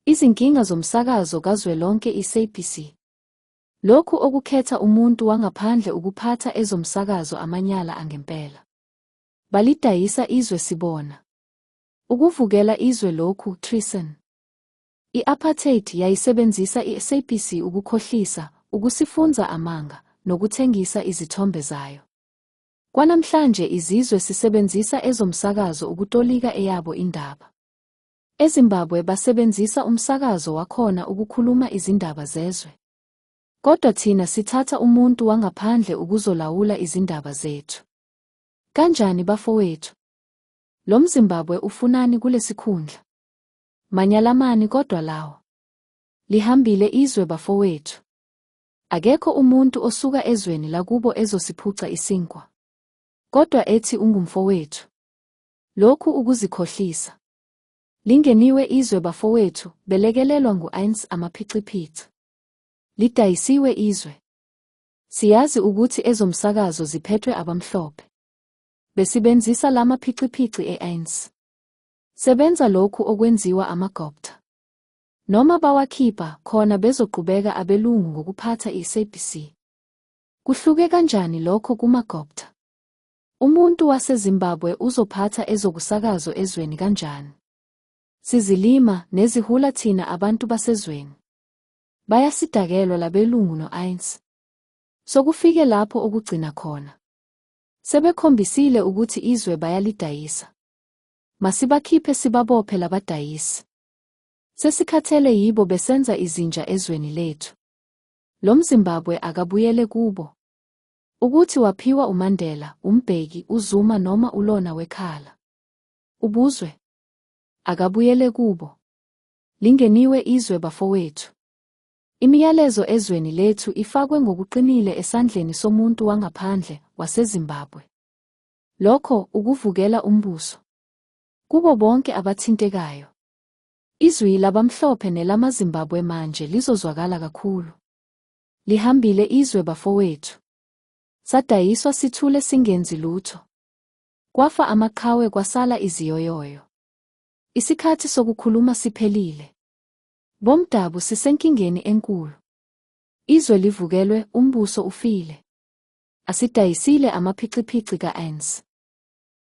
Izinkinga zomsakazo kazwelonke iSABC. Lokhu okukhetha umuntu wangaphandle ukuphatha ezomsakazo amanyala angempela. Balidayisa izwe sibona. Ukuvukela izwe lokhu, treason. I-apartheid yayisebenzisa iSABC ukukhohlisa, ukusifunza amanga, nokuthengisa izithombe zayo. Kwanamhlanje izizwe sisebenzisa ezomsakazo ukutolika eyabo indaba. EZimbabwe basebenzisa umsakazo wakhona ukukhuluma izindaba zezwe. Kodwa thina sithatha umuntu wangaphandle ukuzolawula izindaba zethu. Kanjani bafowethu? Lo mZimbabwe ufunani kulesikhundla? Manyalamani kodwa lawa. Lihambile izwe bafowethu. Akekho umuntu osuka ezweni lakubo ezosiphuca isinkwa. Kodwa ethi ungumfowethu. Lokhu ukuzikhohlisa. Lingeniwe izwe bafowethu, belekelelwa ngu-INS amaphixiphitha. Lidayisiwe izwe. Siyazi ukuthi ezomsakazo ziphethwe abamhlophe. Besibenzisa lama phixiphixi e-ANC. Sebenza lokhu okwenziwa amagopta. Noma bawakhipha khona bezoqhubeka abelungu ngokuphatha i-SABC. Kuhluke kanjani lokho kumagopta? Umuntu waseZimbabwe uzophatha ezokusakazo ezweni kanjani? Sizilima, nezihula thina abantu basezweni. Bayasidakelwa labelungu no-Ains. Sokufike lapho okugcina khona. Sebekhombisile ukuthi izwe bayalidayisa. Masibakhiphe sibabophe labadayisi. Sesikhathele yibo besenza izinja ezweni lethu. Lo Mzimbabwe akabuyele kubo. Ukuthi waphiwa uMandela, uMbheki, uZuma noma uLona wekhala. Ubuzwe. Akabuyele kubo. Lingeniwe izwe bafowethu. Imiyalezo ezweni lethu ifakwe ngokuqinile esandleni somuntu wangaphandle waseZimbabwe. Lokho ukuvukela umbuso. Kubo bonke abathintekayo. Izwi labamhlophe nelamaZimbabwe manje lizozwakala kakhulu. Lihambile izwe bafowethu. Sadayiswa sithule singenzi lutho. Kwafa amaqhawe kwasala iziyoyoyo. Isikhathi sokukhuluma siphelile. Bomdabu sisenkingeni enkulu. Izwe livukelwe, umbuso ufile. Asidayisile amaphichiphichi ka-ANC.